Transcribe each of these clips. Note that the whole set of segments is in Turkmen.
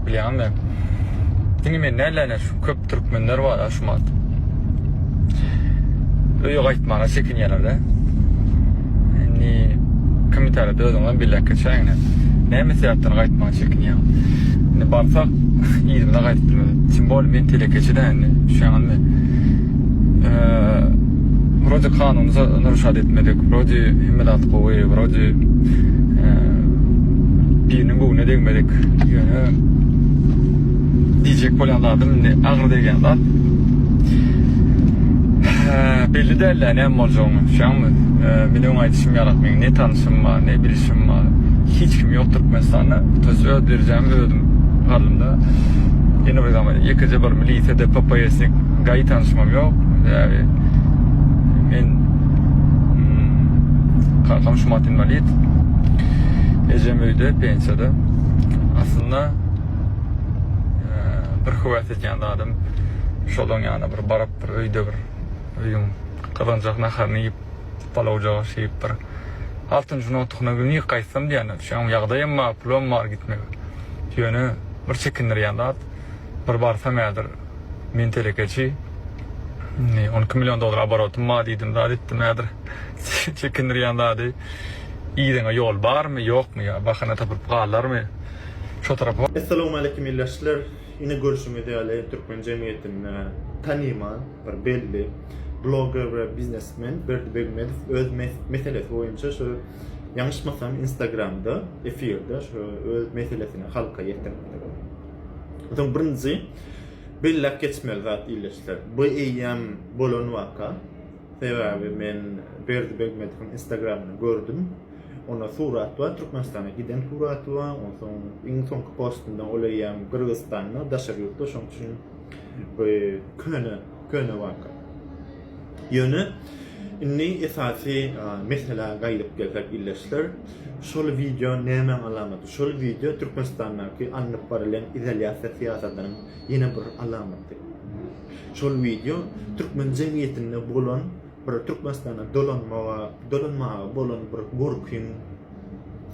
Bilýän men. Diňe men däl-de, şu köp türkmenler bar aşmat. Öýe gaýtmaga çekinýärler-de. Indi kim täret özüňden billäk geçäýiň. Näme sebäpden gaýtmaga çekinýäň? Indi barsak, yzyna gaýdyp bilmeris. Tim bol men telekeçi-dä indi. Düşýäňizmi? Wrodi kanunyza nrşad etmedik, wrodi hemme zat gowy, wrodi biriniň göwnüne degmedik. Ýöne diýjek bolýan zadym indi agyr degýän zat. Belli däl-ä näme boljagyny, düşýäňmi? Men öň aýdyşym ýaly, meň ne tanşym bar, ne bilşim bar, hiç kim ýok Türkmenistanda. Tutuş öz derejämi özüm galdym-da. Ýene bir zat, ýekeje bir milisiýa-de, PPS-nik. Gaýy tanyşymam ýok. Sebäbi men hmm, kakam şumat inwalid. Ejem öýde pensiýada. Aslynda e, bir höwes edýän zadym şolaň ýana bir baryp bir öýde bir öýüň gazanjak naharyny iýip, palawja şeýip bir altyn juna otugyna gün gaýtsam diýýän. Şoň ýagdaýam bar, pulam bar gitmegi. Ýöne bir çekindirýän zat. Bir barsaň häzir men telekeçi, on iki million dollar oborotym bar diýdim zat etdim häzir çekindirýän zady yzyňa ýol barmy ýokmy ýa bahana tapyp galarmy şo tarapa. Essalawmaleýkim ildeşler! Ine görşüňiz ýaly türkmen jemgyýetinde tanymal bir belli bloger we biznesmen Berdi Begmedow öz meselesi boýunça şu ýaňyşmasam instagramda efirde şu öz meselesini halka ýetiripdir. Öten birinji belläp geçmeli zat ildeşler. Bu eýýäm bolan waka. Sebäbi men Berdi Begmediwiň Instagramyny gördüm. Onda surat bar, Türkmenistana giden suraty bar. Onsoň iň soňky postunda ol eýýäm Gyrgyzystanda, daşary ýurtda. Şoň üçin bu köne Köne waka. Ýöne indi esasy meselä gaýdyp gelsek ildeşler, şol wideo nämäň alamaty? Şol wideo Türkmenistandaky alnyp barylýan izolýasiýa syýasatynyň ýene bir alamaty. Şol wideo türkmen jemgyýetinde bolan bir Türkmenistana dolanmaga, dolanmaga bolan bir gorkyň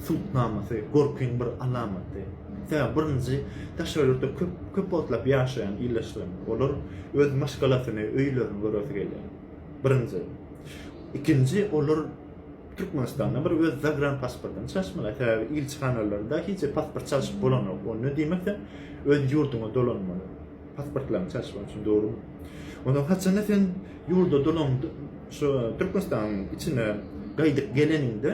subutnamasy, gorkyň bir alamaty. Sebäbi birinji, daşary ýurtda köp, köp wagtlap ýaşaýan ildeşlerim. Olar öz maşgalasyny, öýlerini göresi gelýär. Birinji. Ikinji, olar Türkmenistanda bir öz zagran pasportyny çalyşmaly. Sebäbi ilçihanalarda hiç pasport çalyşyp bolanok. Onda diýmek sen öz ýurduňa dolanmaly. Pasportlaryňy çalyşmak üçin dogrumy? Onda haçanda sen ýurda dolan şu Türkmenistanyň içine gaýdyp geleniňde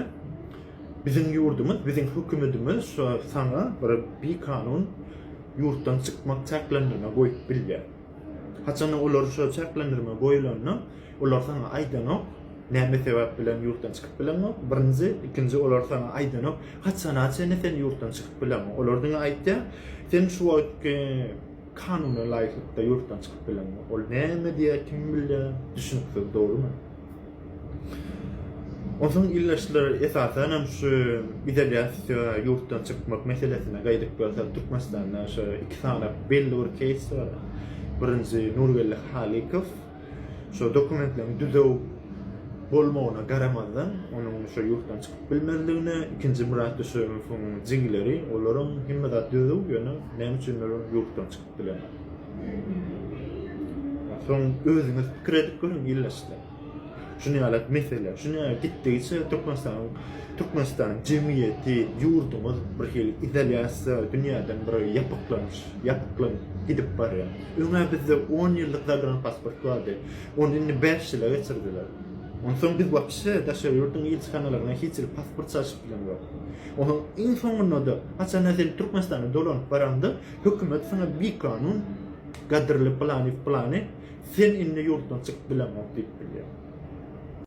biziň ýurdumyz, biziň hökümetimiz şu saňa bir bikanun ýurtdan çykmak çäklendirme goýup bilýär. Haçanda olar şu çäklendirme goýulanda Olar saňa aýdanok, näme sebäp bilen ýurtdan çykyp bileňok, birinji, ikinji olar saňa aýdanok, haçana çenli sen ýurtdan çykyp bileňok. Olar diňe aýtýar, sen şu wagtky kanuna laýyklykda ýurtdan çykyp bileňok. Ol näme diýýär, kim bilýär, düşüniksiz, dogrumy? Onsoň ildeşler esasan hem şu izolýasiýa ýurtdan çykmak meselesine gaýdyp gelsek, Türkmenistanda şu iki sany belli bir keýs bar. Birinji Nurgeldi Halykow, Şu dokumentleriň düzüw bolmagyna garamazdan, onuň şu ýurtdan çykyp bilmezligine, ikinji Myrat Düşegowyň jigileri, olaryň hemme zat düzüw, ýöne näme üçindir ýurtdan çykyp bilenok. Soň özüňiz pikir edip görüň ildeşler. Şuny ýaly mesele, şuny ýaly gitdigiçe Türkmenistanyň Türkmenistanyň jemgyýeti, ýurdumyz birhili izolýasiýa, dünýäden bir ýapyklanyş, ýapyklanyp gidip barýar. Öňe bizde on ýyllyk zadran pasport bardy. Ony indi bäş ýyla geçirdiler. Onsoň biz wapşe daşary ýurduň ilçihanalaryna hiç ýyl pasport çalşyp bilemzok. Onuň iň soňunda-da, haçanda sen Türkmenistana dolanyp baraňda, hökümet saňa bikanun gadyrly plany-plany, sen indi ýurtdan çykyp bilemok diýip bilýär.